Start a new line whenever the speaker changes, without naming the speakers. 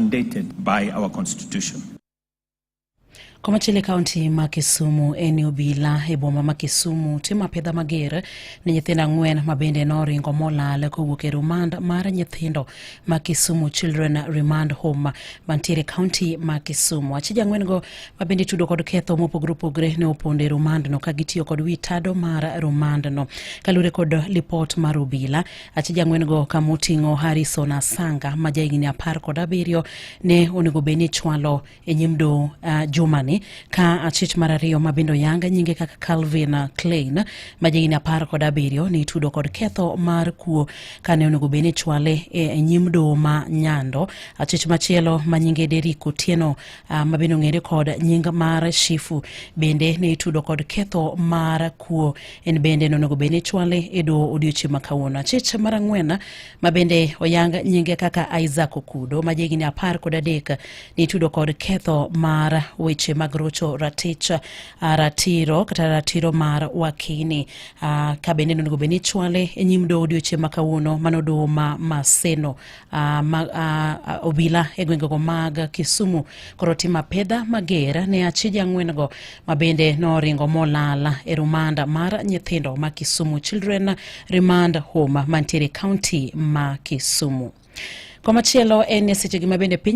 mandated by our constitution.
Komachielo e kaunti ma Kisumu en obila e boma ma Kisumu timo apedha mager ne nyithindo ang'wen ma bende noringo molal kowuok e remand mar nyithindo ma Kisumu Children Remand Home mantiere kaunti ma Kisumu. Achije ang'wen-go ma bende tudo kod ketho mopogore opogore ne opondo e rumandno ka gitiyo kod wi tado mar rumandno. Kalure kod lipot mar obila, achija ng'wen-go ka moting'o harrison asanga ma jahigni apar kod abiriyo ne onego bed ni chwalo e nyim do uh, jumani ka achich mar ariyo ma bende oyanga nyinge kaka calvin klein ma jahigni apar kod abiriyo ne itudo kod ketho mar kuo ka ne onego bed ni chwale e, e nyim do ma nyando achich machielo ma nyinge derik otieno uh, ma bende ong'ere kod nying mar shifu bende ne itudo kod ketho mar kuo en bende nonego bed ni chwale e doho odiochieng' ma kawuono achich mar ang'wen ma bende oyang nyinge kaka isaac okudo ma jahigni apar kod adek nitudo kod ketho mar weche mag rocho ratich ah, ratiro kata ratiro mar wakini Ah, ka bende nonego bed ni chwale e nyim doho odiochieng' ma kawuono mano doho ma maseno Uh, ma, uh, obila e gwengego mag Kisumu koro timo apedha mager ne achije ang'wen-go ma bende noringo molal e rumanda mar nyithindo ma Kisumu Children Remand Home mantiere kaunti ma Kisumu. Komachielo en e sechegi ma bende piny